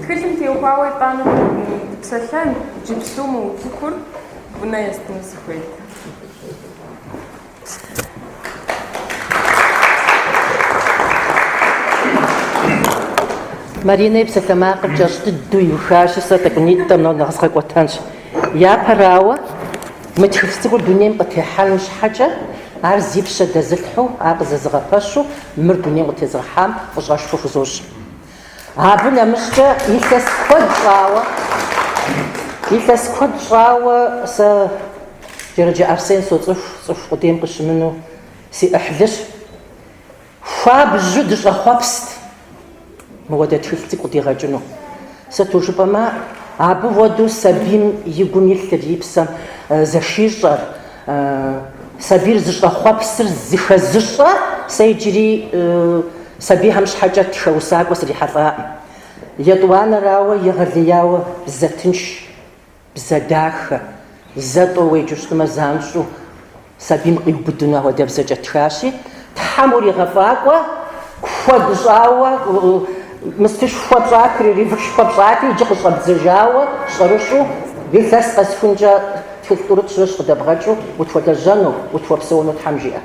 Тхылъым теухуауэ итӏанэ дыпсэлъэн, иджыпсту мыуцухур унэ естыну сыхуейт. Маринэ и псалъэмакъыр кӏэщӏ дыдэу иухащи, сэ тӏэкӏунитӏэ мор нэхъ згъэкӏуэтэнщ. Япэрауэ, мы тхылъ цӏыкӏур дунейм къытехьэным щхьэкӏэ, ар зи пщэ дэзылъхьэу, ар къызэзыгъэпэщу, мыр дунейм къытезыгъэхьам фӏыщӏэшхуэ хузощӏ. Абы нэмыщӏкӏэ илъэс куэд щӏауэ, илъэс куэд щӏауэ сэ Джэрыджэ Арсен соцӏыху, цӏыху къудейм къыщымыну си ӏыхьлыщ. Хуабжьу дыщӏэхъуэпст мыуэдэ тхылъ цӏыкӏу къыдигъэкӏыну. Сыту жыпӏэмэ, абы уэду сабийм и гум илъыр, и псэм зэхищӏэр, Сабийр зыщӏэхъуэпсыр зыхэзыщӏэ сэ иджыри сабийхэм щхьэкӏэ тхэ усакӏуэ срихьэлӏакъым. Етӏуанэрауэ, егъэлеяуэ бзэ тынш, бзэ дахэ, зэ тӏэу уеджэу щытмэ, занщӏэу сабийм къиубыдыну ахуэдэ бзэкӏэ тхащи, Тхьэм уригъэфӏакӏуэ, куэд щӏауэ, мыстышхуэ пщӏат, перерывышхуэ пщӏати, иджы къыщӏэбдзэжауэ щӏэрыщӏу, илъэс къэсхункӏэ тхылъ тӏурытӏ, щырыщ къыдэбгъэкӏыу утхуэлэжьэну, утхуэпсэуну Тхьэм жиӏэ.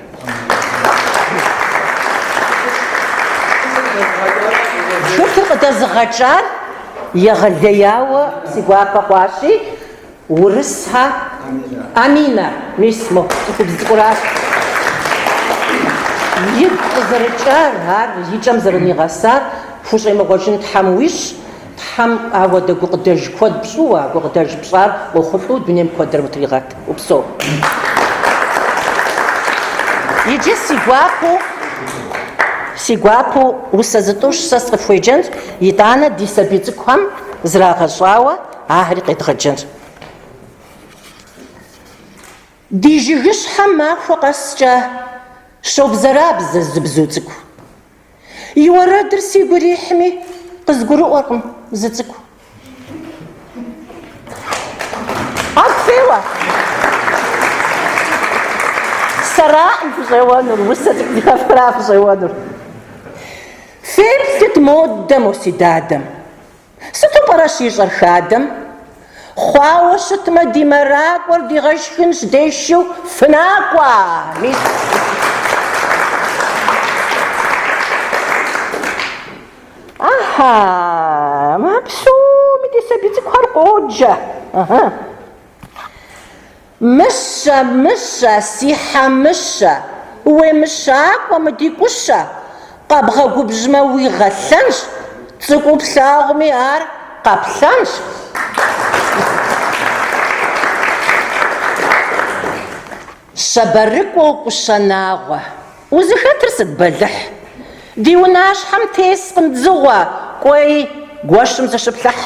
Тхылъыр къыдэзыгъэкӏар егъэлеяуэ си гуапэ хъуащи, Урысхьэ Аминэ, мис мо цӏыхубз цӏыкӏуращ. Игу къызэрыкӏар, ар и кӏэм зэрынигъэсар хущӏемыгъуэжын Тхьэм уищӏ, Тхьэм ауэдэ гукъыдэж куэд пщӏыуэ, а гукъыдэж пщӏар къохъулӏэу дунейм куэдыр утригъэт, упсэу. Иджы си гуапэу, си гуапэу усэ зытӏущ сэ сыкъыфхуеджэнщ, итӏанэ ди сабий цӏыкӏухэм зрагъэщӏауэ, Ахэри къедгъэджэнщ. Ди жыгыщхьэм махуэ къэскӏэ щобзэрабзэ зы бзу цӏыкӏу. И уэрэдыр сигу ирихьми, къызгурыӏуэркъым зы цӏыкӏу. Ӏэгу феуэ. Сэракъым фыщӏеуэнур, усэ цӏыкӏухэра фыщӏеуэнур. Феплъыт модэ мо си дадэм. Сыту пӏэрэ щищӏэр хадэм? Хъуауэ щытмэ, ди мэракӏуэр дигъэшхынщ дешыху, фынакӏуэ! Мис. Ахьа, а псоми ди сабий цӏыкӏухэр къоджэ. Ахьа. Мыщэ, мыщэ, си хьэ мыщэ, Уемыщакӏуэ мы ди кӏущэ, Къэбгъэгубжьмэ, уигъэлъэнщ, Цӏыкӏуу плъагъуми ар къаплъэнщ. Щабэрыкӏуэу кӏущэ нагъуэ, Узыхэтыр сыт бэлыхь, Ди унащхьэм тескъым дзыгъуэ, Кӏуэи, гуэщым зыщыплъыхь.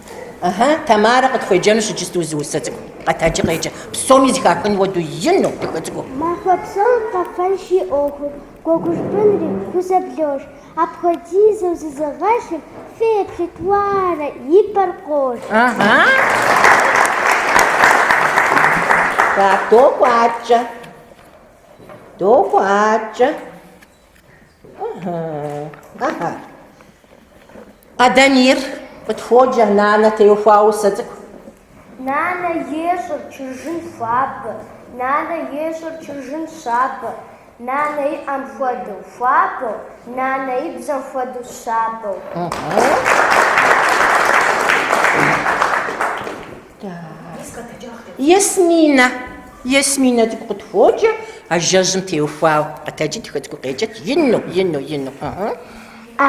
Ыхьы, Тамарэ къытхуеджэнущ иджысту зы усэ цӏыкӏу. Къэтэджи къеджэ, псоми зыхахын хуэдэу ину, дахэ цӏыкӏуу. Махуэ псом къэфэнщ и ӏуэхур, гуэгуш бынри хузэблож. Апхуэдизу зызыгъэпщым феплъыт, уарэ, и пэр къож. Ыхьы. Так, докӏуатэ. Докӏуатэ. Къэдэнир къытхуоджэ, нанэ теухуа усэ цӏыкӏу. Нанэ ещӏыр чыржын хуабэ, нанэ ещӏыр чыржын щабэ, нанэ и ӏэм хуэдэу хуабэу, нанэ и бзэм хуэдэу щабэу. Ясминэ. Ясминэ цӏыкӏу къытхуоджэ, ажэжьым теухуауэ. Къэтэджи дахэ цӏыкӏуу къеджэт ину, ину, ину.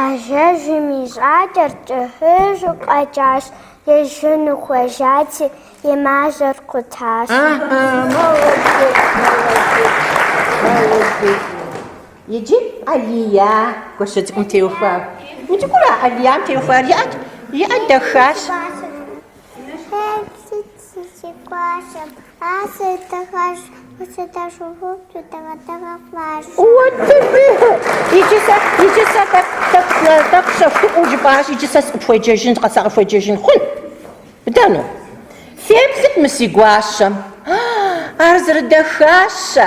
Ажэжьым и жьакӏэр кӏыхьыжьу къэкӏащ, ижьыну хуежьати, и мажьэр къутащ. Иджы Алия гуащэ цӏыкӏум теухуауэ. Мы цӏыкӏура Алиям теухуар? Иӏэт, иӏэ дахащ. Хэт сыт сыщыкӏуащэм, а сыдыгъэщ, къыщыдэшухуфту дыгъэ-дыгъэ хъуащ. Иджы сэ тӏэкӏу щэхуӏуэу жыпӏащ, иджы сэ сыкъыпхуеджэжын, сакъыхуеджэжын хъун? Бдэну? Феплъыт мы си гуащэм. А, ар зэрыдахащэ.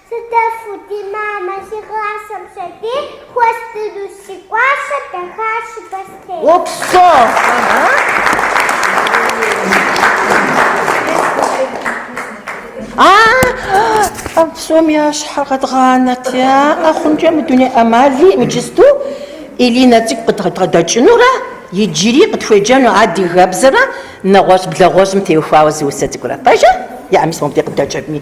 Сыдэфу ди мамэ сигъасэм сабий хуэздыну си гуащэ дахащэ бостей. Опсо! А псом ящхьэр къэдгъанэрт, яӏэ хъункӏэ мы дуней ӏэмали иджысту Илинэ цӏыкӏу къыдгъэдэкӏынурэ иджыри къытхуеджэну адыгэбзэрэ нэгъуэщӏ блэгъуэщӏым теухуауэ зы усэ цӏыкӏурэ. Пэжа? Яӏэми сэ мыбдеж къыддэкӏыркъыми.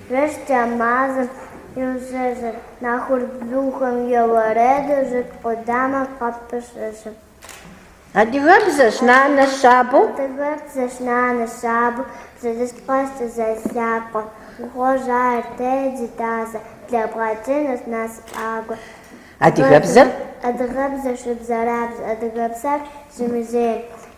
Жэщкӏэ мазэм иӏущэщыр. Нэхур бзухэм я уэрэду жыг къудамэ къыпыщэщыр. Адыгэбзэщ нанэ щабэу. Адыгэбзэщ нанэ щабэу зыдыщт къэскӏэ зэлъакъуэ. Ухуожь ар дей ди дазэ, блэбгъэкӏынущ насыпӏагуэ. Адыгэбзэр? Адыгэбзэр щыбзэрабзэ, адыгэбзэр зымызейм.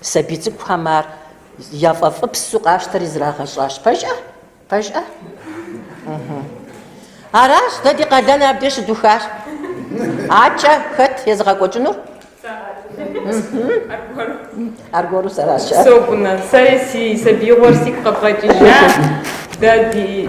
Сабий цӏыкӏухэм ар яфӏэфӏыпсу къащтэри зрагъэщӏащ. Пэжӏэ? Пэжӏэ? Аращ дэ ди къалэн абдеж щыдухар. Акӏэ хэт езыгъэкӏуэкӏынур? Аргуэру сэращ. Согумэ, сэри си сабиигъуэр сигу къэбгъэкӏыжа. Дэ ди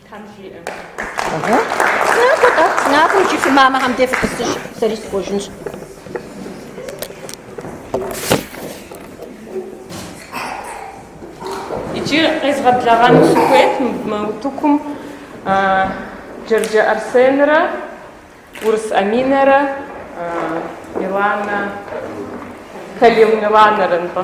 Тхьэм жиӏэ. Иджы фи мамэхэм де фытӏысыж, сэри сыхуэжынщ. Иджы къезгъэблэгъэну сыхуейт мы утыкум Джэрджэ Арсенрэ Урыс Аминэрэ Миланэ Калил Миланэрэ нтӏэ.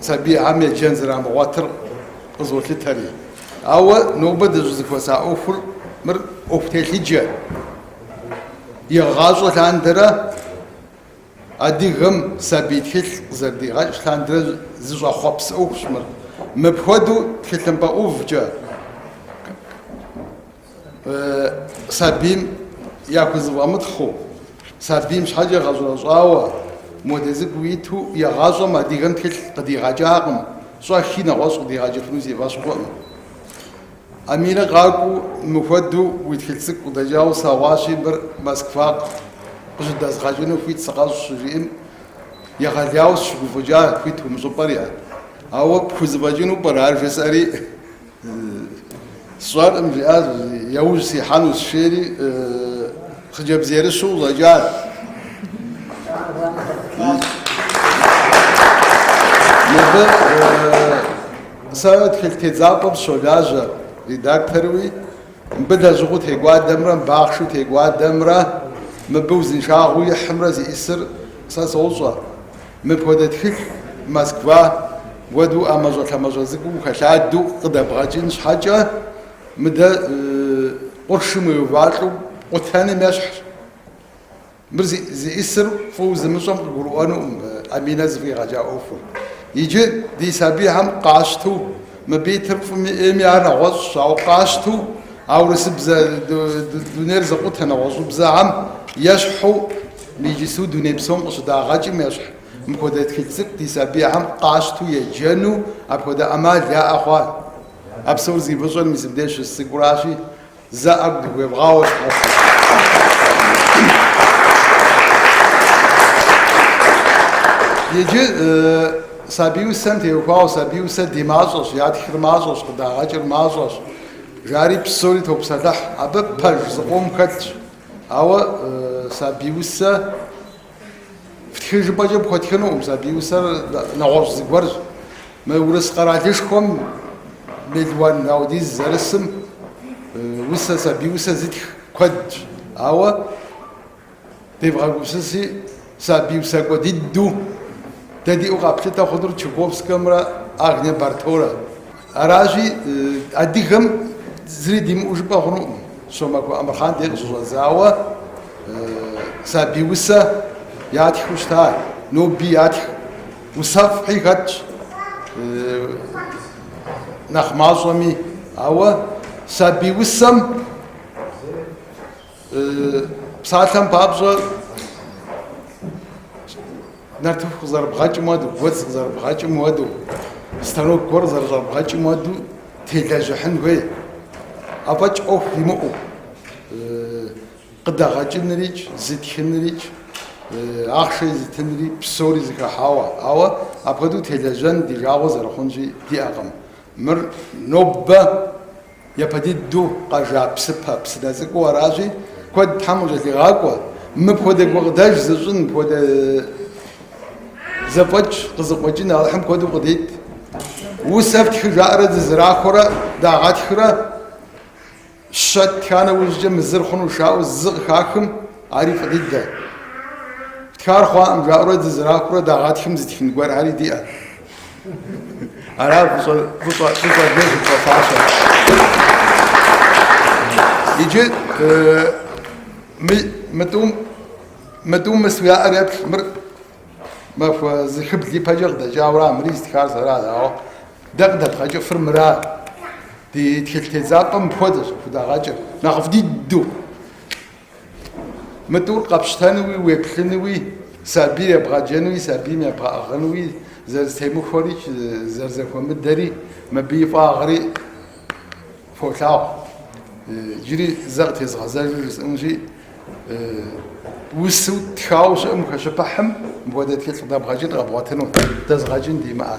сабийхьэм еджэн зэрамыгъуэтыр къызолъытэри. Ауэ нобэ дыщӏызэхуэса ӏуэхур, мыр ӏуэху телъыджэ. Игъащӏэ лъандэрэ адыгэм сабий тхылъ къызэрыдигъэкӏ лъандэрэ зыщӏэхъуэпс ӏуэхущ мыр. Мыпхуэдэу тхылъымпӏэ ӏувкӏэ, сабийм яхузэфӏэмытхъыу, сабийм щхьэкӏэ гъэщӏэрэщӏауэ, моди цӏыкӏуу иту я гъащӏэм адыгэм тхылъ къыдигъэкӏакъым, щӏэхи нэгъуэщӏ къыдигъэкӏыфыну си фӏэщ хъукъым. Аминэ къакӏуэу мыхуэдэу уи тхылъ цӏыкӏу къыдэкӏауэ слъэгъуащи, мыр Москва къыщыдэзгъэкӏыну хуит сыкъэщӏ щыжиӏэм, егъэлеяуэ сыщыгуфӏыкӏа, хуит умыщӏыпӏэри. Ауэ пхузэфӏэкӏыну пӏэрэ ар жесӏэри? Сщӏэркъым, жиӏащ, яужь сихьэнущ жери, хъыджэбз ерыщу къыщӏэкӏащ. Мыбы сэ тхылъ тедзапӏэм сыщолажьэ редакторуи, мыбы лэжьыгъэу текӏуадэмрэ мыбы ахъшэу текӏуадэмрэ, мыбы узыншагъэу ихьымрэ зиӏысыр сэ сощӏэ. Мыпхуэдэ тхылъ Москва хуэду ӏэмащӏэлъэмащӏэ цӏыкӏуу ухэлъадэу къыдэбгъэкӏын щхьэкӏэ, мыдэ къуршым уеувалӏэу къутэным ещхьщ. Мыр зиӏысыр фӏыуэ зымыщӏэм къыгурыӏуэнукъым Аминэ зэфӏигъэкӏа ӏуэхур. Иджы ди сабийхьэм къащту, мыбы итыр фӏыми ӏейми ар нэгъуэщӏщ, ауэ къащту а урысыбзэ дунейр зыкъутэ нэгъуэщӏыбзэхьэм ещхьу, Инджылызу дуней псом къыщыдагъэкӏым ещхь мыпхуэдэ тхылъ цӏыкӏу ди сабийхьэм къащту еджэну апхуэдэ ӏэмал яӏэ хъуа? А псор зи фӏыщӏэр мис мыбдеж щыс цӏыкӏуращи, зэ ӏэгу дыхуевгъауэ. Иджы сабий усэм теухуауэ, сабий усэ ди мащӏэщ, ятхыр мащӏэщ, къыдагъэкӏыр мащӏэщ, жари псори топсэлъыхь, абы пэж зыкъом хэтщ. Ауэ сабий усэ фтхы жыпӏэкӏэ пхуэтхынукъым, сабий усэр нэгъуэщӏ зыгуэрщ. Мы Урыс къэралышхуэм мелуан ауэдиз зэрысым усэ, сабий усэ зытх куэдщ. Ауэ девгъэгупсыси, Сабий усакӏуэ дыдэу дэ диӏэу къаплъытэ хъунур Чуковскэмрэ Агнэ Барторэ. Аращи, адыгэм зыри димыӏэу жыпӏэ хъунукъым, Щомахуэ Амырхъан дей къыщыщӏэдзауэ сабий усэ ятхыу щыта, ноби ятх, усэфӏхэри хэтщ нэхъ мащӏэми, ауэ сабий усэм Псалъэм папщӏэ, нартыху къызэрыбгъэкӏым уэду, гуэдз къызэрыбгъэкӏым уэду, станок гуэр къызэрыщӏэбгъэкӏым уэду телэжьыхьын хуей. Афӏэкӏ ӏуэху имыӏэу къыдэгъэкӏынрикӏ, зытхынрикӏ, ахъшэ езытынри псори зэхыхьауэ. Ауэ апхуэдэу телэжьэн ди жагъуэ зэрыхъунщи диӏэкъым. Мыр нобэ Япэ дыдэу къэжа псыпэ, псынэ цӏыкӏуу аращи, куэд Тхьэм кӏэлъигъакӏуэ, мыпхуэдэ гукъыдэж зыщӏын, мыпхуэдэ зэфӏэкӏ къызыкъуэкӏын Алыхьым куэду къыдит. Усэ фтхы жаӏэрэ дызэрахуэрэ дагъэтхрэ, щэ ттха нэужькӏэ мы зыр хъунущ жаӏэу зы къыхахым, ари фӏы дыдэ. Фтхар хъуакъым жаӏэурэ дызэрахуэрэ дагъэтхым зытхын гуэрхэри диӏэ. Ара фыщӏэфащэр. Иджы мытӏум мыс уяӏэр еплъ, мыр махуэ зыхыбл ипэкӏэ къыдэкӏауэ ара, мыри зытхар сэра, ауэ дэ къыдэдгъэкӏыфыр мыра. Ди тхылъ тедзапӏэм мыпхуэдэщ къыдагъэкӏыр, нэхъыфӏ дыдэу. Мытӏур къэпщтэнуи, уеплъынуи, сабийр ебгъэджэнуи, сабийм ебгъэӏыгъынуи зэрызтемыхуэри, зэрызэхуэмыдэри, мыбы и фӏагъри фолъагъу. Иджыри зэ къытезгъэзэжу жысӏэнущи, усэу тхауэ щыӏэм ухэщыпыхьым мыпхуэдэ тхылъ къыдэбгъэкӏын къэбгъуэтыну, дэзыгъэкӏын димыӏэ.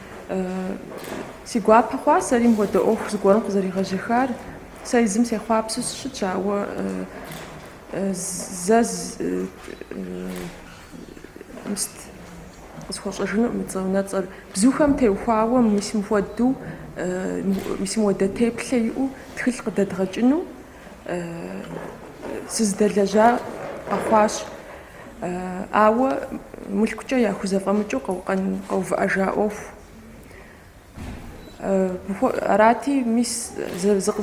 Си гуапэ хъуа сэри мыхуэдэ ӏуэху зыгуэрым къызэригъэжьэхар. Сэ езым сехъуапсэу сыщытщ, ауэ зэ къысхуэщӏэжыну мы цӏэ унэцӏэр. Бзухэм теухуауэ мис мыхуэдэу, мис мыхуэдэ теплъэ иӏэу тхылъ къыдэдгъэкӏыну, Сызыдэлэжьа къэхъуащ, ауэ мылъкукӏэ яхузэфӏэмыкӏыу къэувыӏэжа ӏуэху. Арати, мис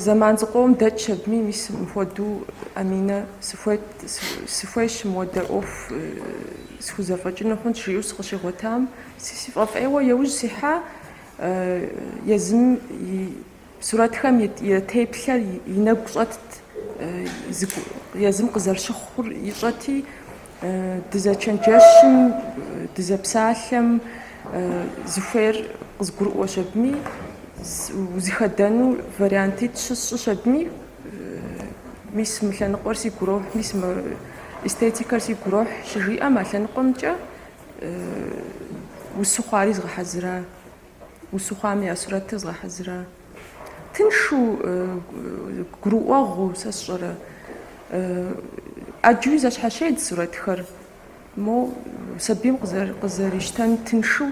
зэман зыкъом дэтщ абыми, мис мыпхуэдэу, Аминэ, сыхуейщ мыхуэдэ ӏуэху схузэфӏэкӏыну хъунщ, жиӏэу сыкъыщигъуэтам, си фӏэфӏ ӏейуэ еужь сихьа, езым и Сурэтхэм и теплъэр и нэгу щӏэтт, езым къызэрыщыхъур ищӏэти, дызэчэнджэщым, дызэпсалъэм зыхуейр къызгурыӏуэщ абыми, узыхэдэну вариантитӏ сщӏыщ абыми, мис мы лъэныкъуэр сигу ирохь, мис мы эстетикэр сигу ирохь щыжиӏэм а лъэныкъуэмкӏэ усыгъуэри згъэхьэзыра. Усыгъуэм я сурэтыр згъэхьэзыра? Тыншу, гурыӏуэгъуу, сэ сщӏэрэ. ӏэджэуи зэщхьэщедз сурэтхэр. Мо сабийм къызэрищтэн тыншу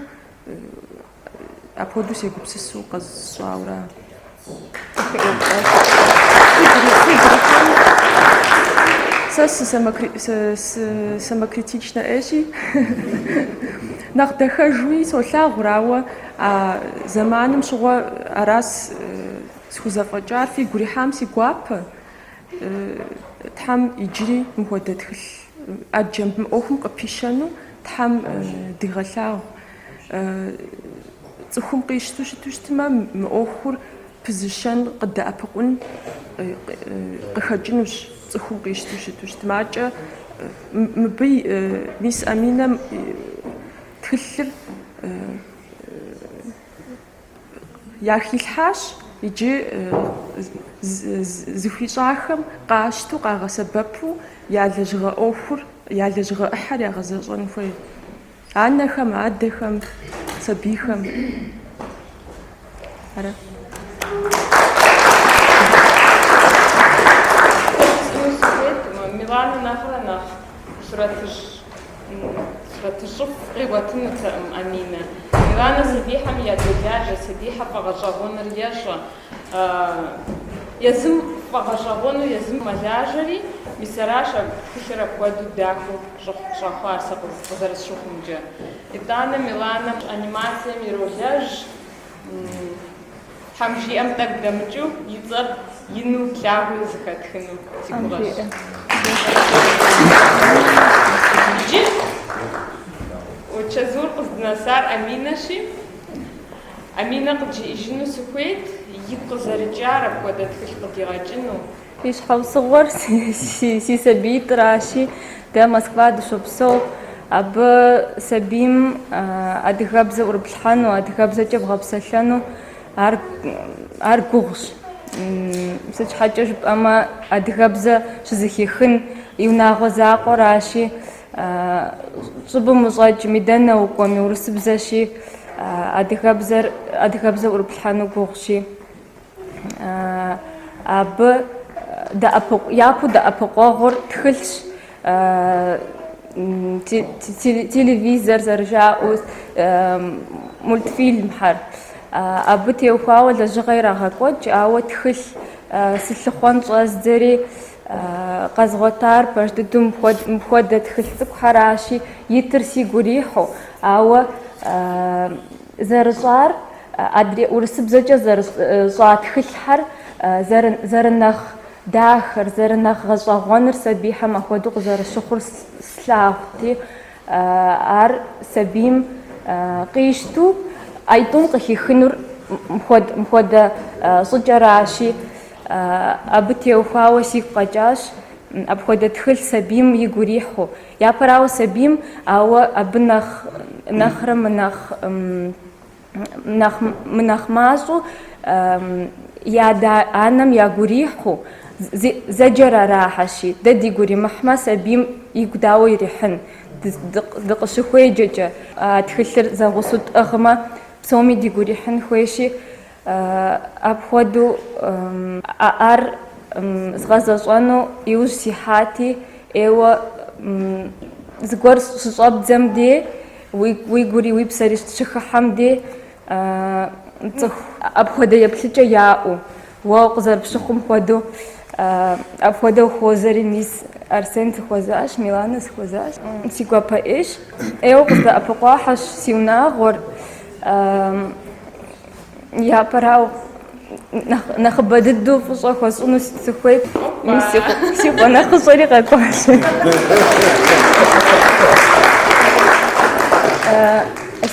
апхуэдэу сегупсысу къэсщӏауэ ара? Сэ сысамокритичнэ ӏейщи, нэхъ дахэжуи солъагъур, ауэ а зэманым щыгъуэ аращ схузэфӏэкӏар, фигу рихьам си гуапэ. Тхьэм иджыри мыхуэдэ тхылъ ӏэджэм мы ӏуэхум къыпищэну Тхьэм дигъэлъагъу. Цӏыхум къищту щыту щытмэ, мы ӏуэхур пызыщэн, къыдэӏэпыкъун къыхэкӏынущ, цӏыхум къищту щыту щытмэ. Абыкӏэ мыбы мис Аминэм тхылъыр яхилъхьащ иджы зыхуищӏахэм къащтэу, къагъэсэбэпу я лэжьыгъэ ӏуэхур, я лэжьыгъэ ӏыхьэр ягъэзэщӏэн хуей. Анэхэм, адэхэм, сабийхэм. Ара? Миланэ нэхърэ нэхъ сурэтыщ сурэтыщӏыфӏ къигъуэтынутэкъым Аминэ. Миланэ сабийхэм ядолажьэ, сабийхэм яфӏэгъэщӏэгъуэныр ещӏэ, Езым фӏэгъэщӏэгъуэну езым мэлажьэри, мис аращ а тхылъыр апхуэдэу дахэу щӏэхъуар сэ къызэрысщыхъумкӏэ. Итӏанэ Миланэм анимацием иролэжь, Тхьэм жиӏэм тӏэкӏу дэмыкӏыу и цӏэр ину, лъагэу зыхэтхыну си гугъэщ. Иджы чэзур къыздынэсар Аминэщи. Аминэ къыджиӏэжыну сыхуейт, игу къызэрыкӏар апхуэдэ тхылъ къыдигъэкӏыну. И щхьэусыгъуэр си сабиитӏращи, дэ Москва дыщопсэу, абы сабийм адыгэбзэ ӏурыплъхьэну, адыгэбзэкӏэ бгъэпсэлъэну ар ар гугъущ. Сыт щхьэкӏэ жыпӏэмэ, адыгэбзэ щызыхихын и унагъуэ закъуэращи. Щӏыбым ущӏэкӏми, дэнэ укӏуэми, урысыбзэщи, адыгэбзэр, адыгэбзэ ӏурыплъхьэну гугъущи, абы дэӏэпыкъу, япэу дэӏэпыкъуэгъур тхылъщ, телевизор зэрыжаӏэу, мультфильмхэр. Абы теухуауэ лэжьыгъэ ирагъэкӏуэкӏ, ауэ тхылъ сылъыхъуэн щӏэздзэри, Къэзгъуэтар пэж дыдэу мыпхуэдэ тхылъ цӏыкӏухэращи, итыр сигу ирихьу, ауэ зэрыщӏар адрей урысыбзэкӏэ зэрыщӏа тхылъхьэр зэрынэхъ дахэр, зэрынэхъ гъэщӏэгъуэныр сабийхэм апхуэдэу къызэрыщыхъур слъагъути, ар сабийм къищту аитӏум къыхихынур мыпхуэдэ щӏыкӏэращи, Абы теухуауэ сигу къэкӏащ апхуэдэ тхылъ сабийм игу ирихьу. Япэрауэ сабийм, ауэ абы нэхъ, нэхърэ мы, мынэхъ мащӏэу и адэ анэм ягу ирихьу, зэджэр арахьэщи, дэ дигу иримыхьмэ, сабийм игу дауэ ирихьын, дыкъыщыхуеджэкӏэ? А тхылъыр зэгъусэу тӏыгъмэ, псоми дигу ирихьын хуейщи, Апхуэдэу ар згъэзэщӏэну иужь сихьати, ӏейуэ зыгуэр щыщӏэбдзэм де, уи гури уи псэри щыхыхьэм де, цӏыху апхуэдэ еплъыкӏэ яӏэу, уэ къызэрыпщыхъум хуэдэу, апхуэдэу хуозэри, мис Арсен сыхуэзащ, Миланэ сыхуэзащ. Си гуапэ ӏейщ, ӏейуэ къыздэӏэпыкъуахьэщ си унагъуэр. Япэрауэ нэхъыбэ дыдэу фӏыщӏэ хуэсӏыну сыхуейт. Си къуэ нэхъыщӏэри къэкӏуащ.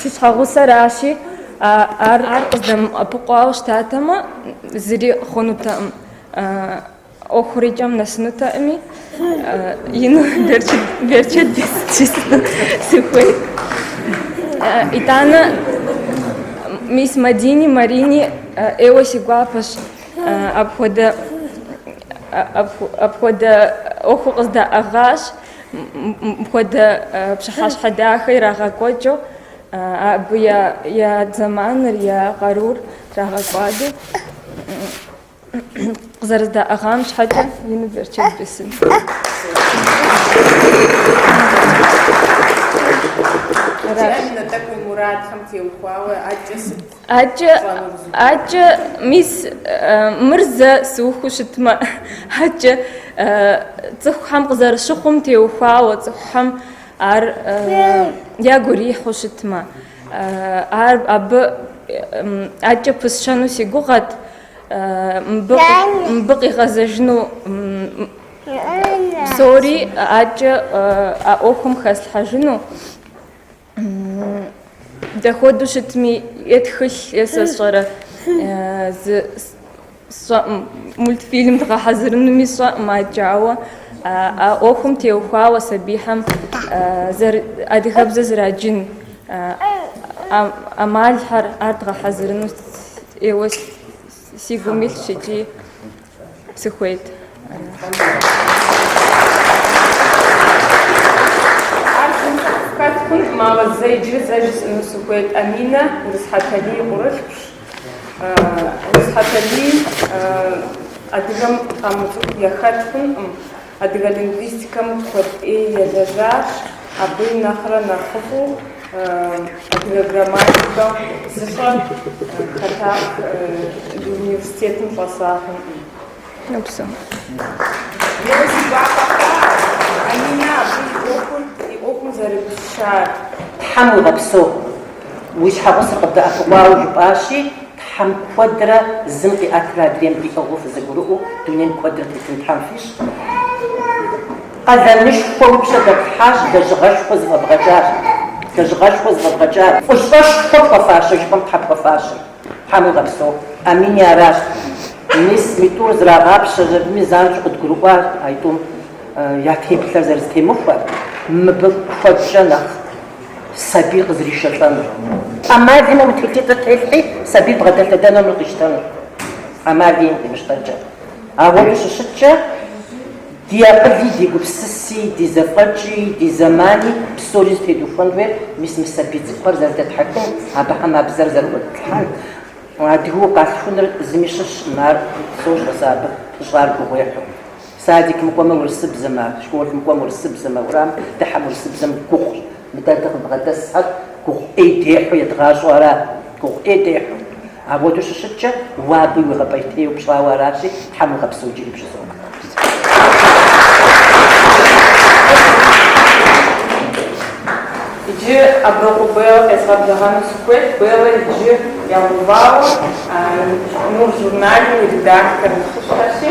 Си щхьэгъусэращи, ар къыздэмыӏэпыкъуауэ щытатэмэ, зыри хъунутэкъым. ӏуэхур икӏэм нэсынутэӏыми, ину берчэт жысӏэну сыхуейт. Итӏанэ мис Мадини, Марини ӏейуэ си гуапэщ апхуэдэ апхуэдэ ӏуэхур къыздаӏыгъащ, мыпхуэдэ пщыхьэщхьэ дахэ ирагъэкӏуэкӏыу, абы я зэманыр, я къарур трагъэкӏуадэу. къызэрыздаӏыгъам щхьэкӏэ ину берчэт бесын. Дяпэкӏэ уи мурадхэм теухуауэ ӏэкӏэ сыт? ӏэкӏэ ӏэкӏэ мис мыр зэ сыухыу щытмэ ӏэкӏэ цӏыхухэм къызэрыщыхъум теухуауэ цӏыхухэм ар ягу ирихьу щытмэ ар абы ӏэкӏэ пысщэну си гугъэт Мыбы къигъэзэжыну псори ӏэкӏэ а ӏуэхум хэслъхьэжыну дахуэдэу щытми, е тхылъ, е сэ сщӏэрэ зы сщӏэӏым, мультфильм дгъэхьэзырынуми сщӏэӏым ачӏэ, ауэ а ӏуэхум теухуауэ сабийхьэм адыгэбзэ зэраджын ӏэмалхьэр, ар дгъэхьэзырыну ӏейуэ си гум илъщ икӏи сыхуейт. Хэт хъун зымагъэ зэ иджыри зэ жысӏэну сыхуейт Аминэ Урыс Хьэталий и къурылъхущ. Урыс Хьэталий адыгэм къамыцӏыху яхэт хъункъым. Адыгэ лингвистикэм куэд ӏей елэжьащ, абы нэхърэ нэхъыфӏу адыгэ грамматикэм зыщӏэ хэтах университетым щӏэсахэкъым. Ӏейуэ си гуапэ хъуар! Аминэ абы и ӏуэхур и ӏуэхум зэрыпыпщар. Тхьэм уигъэпсэу, уи щхьэгъусэр къыбдэӏэпыкъуауэ, жыпӏащи, Тхьэм куэдрэ зым къиӏэтрэ адрейм диӏыгъыу фызэгурыӏуэу дунейм куэдрэ тетын Тхьэм фищӏ. Къалэнышхуэ уи пщэ дэтлъхьащ, лэжьыгъэшхуэ зыфӏэбгъэкӏащ, лэжьыгъэшхуэ зыфӏэбгъэкӏащ, фӏыщӏэшхуэ пхуэфащэ жыпӏэм, Тхьэ, пхуэфащэ. Тхьэм уигъэпсэу, Аминэ, аращ. Мис мы тӏур зрагъапщэ жыпӏэми занщӏэу къыдгурыӏуащ а тӏум я теплъэр зэрызэтемыхуэр, мыбы куэдкӏэ нэхъ. сабий къызришэлӏэнур, ӏэмал имыӏэу тхылъитӏыр телъхьи, сабий бгъэдэлъэдэнуми къищтэнур ӏэмал иӏэкъым къимыщтэнкӏэ. Ауэду щыщыткӏэ, ди акъыли, ди гупсыси, ди зэфӏэкӏи, ди зэмани псори зытедухуэн хуейр мис мы сабий цӏыкӏухэр зэрыдэтхьэхын, абыхэм а бзэр зэрыӏуэтлъхьэн. Адыгэу укъалъхуныр зыми щыщкъым, ар сощӏэ сэ абы пыщӏар гугъуехьу. Садикым кӏуэмэ, урысыбзэмэ, школым кӏуэмэ, урысыбзэмэ, уэрамым дыхьэм, урысыбзэм гугъущ. Мыдэ дыкъыбгъэдэсхэр гугъу ӏей дехьу едгъащӏэу ара? Гугъу ӏей дехьу. Ауэдэу щыщыткӏэ, уэ абы уигъэпӏейтейуэ пщӏауэ аращи, Тхьэм уигъэпсэу джыри бжызоӏэ. Иджы Аброкъуэ Беллэ къезгъэблэгъэну сыхуейт, Беллэ иджы ягъэувауэ Нур журналым и редактор нэхъыщхьэщи.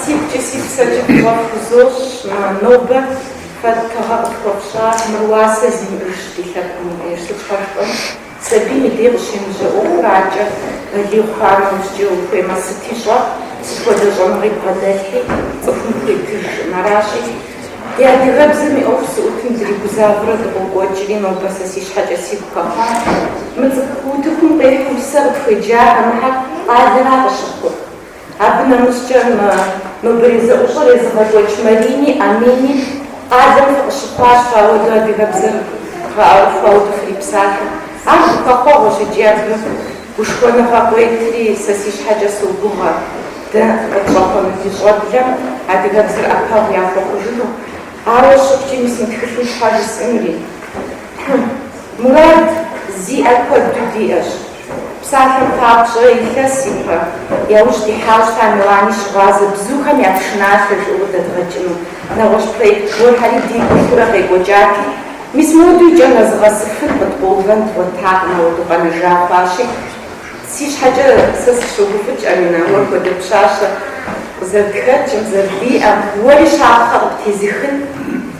Си гукӏэ си псэкӏэ фӏыщӏэ фхузощӏ, нобэ фэ тыгъэ къытхуэфщӏар мыр уасэ зимыӏэщ ди лъэпкъым деж, сытхуэшхуэм. Сабийм и дей къыщемыжьэ ӏуэхур аркӏэ балигъ хъуам нэужькӏэ ухуеймэ сыти щӏэ, сыт хуэдэ щӏэныгъи бгъэдэлъхьи, цӏыхум хуитыжкъым. Аращи, ди адыгэбзэм и ӏуэху зыӏутым дыригузавэурэ дыкъокӏуэкӏри, нобэ сэ си щхьэкӏэ сигу хэхъуа, мы цӏыкӏу утыкум къихьэу усэ къытхуеджахэ мыхьэр къалэра къыщыхъур? Абы нэмыщӏкӏэ мы нобэрей зэӏущӏэр езыгъэкӏуэкӏ Марини Амини къалэм фыкъыщыхъуащ, фэ ауэдэу адыгэбзэр гъэӏэрыхуауэ фрипсалъэ. Ар гухэхъуэгъуэщ икӏи абы гушхуэныгъэ къыуетри, сэ си щхьэкӏэ согугъэ, дэ къытщӏэхъуэну ди щӏэблэм адыгэбзэр ӏэпэгъу яхуэхъужыну. Ауэ щыхъукӏи, мис мы тхылъым щхьэ жысӏэнури? Хьы, мурад зиӏэ куэду диӏэщ. Псалъэм папщӏэ, илъэс ипэ яужь дихьауэ щыта Милани щыгъуазэ бзухэм я пшыналъэ жыӏэу къыдэдгъэкӏыну. Нэгъуэщӏ проект гуэрхэри дигу илъурэ къекӏуэкӏати, мис модэу икӏэм нэзыгъэсыфын къыткъуэувэн дгъуэтакъым, ауэду къэнэжа хъуащи. Си щхьэкӏэ сэ сыщогуфӏыкӏ, Аминэ, уэ хуэдэ пщащэ къызэрытхэкӏым, зэрыдиӏэм, уэри щапхъэ къыптезыхын,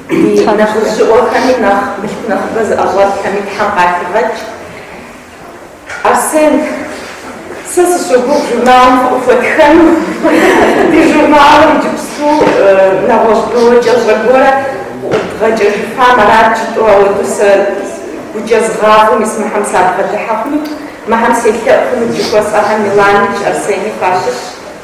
ди нэхъыжьыӏуэхэми, нэхъ мылъку нэхъыбэ зыӏэщӏэлъхэми Тхьэм къахигъэкӏ. Арсен, сэ сыщогугъ журналым фыкъыхуэтхэну. Ди журналыр иджыпсту нэгъуэщӏ бэуэкӏэщӏэ гуэрэ къыӏудгъэкӏэжыфам арат жытӏэу, ауэдэу сэ гукӏэ згъафӏэу мис мыхьэм сабгъэдыхьэ хъунут, мыхьэм селъэӏу хъунут жыхуэсӏэхэм Миланикӏ, Арсени фащыщщ.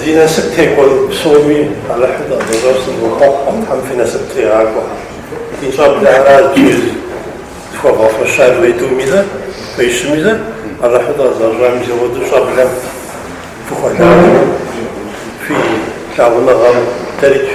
Зи насып текӏуэ псоми Алыхьу дыкъэзыгъэщӏам сывохъуэхъу, Тхьэм фи насып тригъакӏуэ. Ди щӏэблэ аращ зыри зыхуэвгъэфэщар уетӏуми зэ, хуещӏми зэ, Алыхьу дыкъэзыгъэщӏам и сэгъуэ ди щӏэблэм фыхуэлажьэу, фи лъагъуныгъэм дэрыкӏ.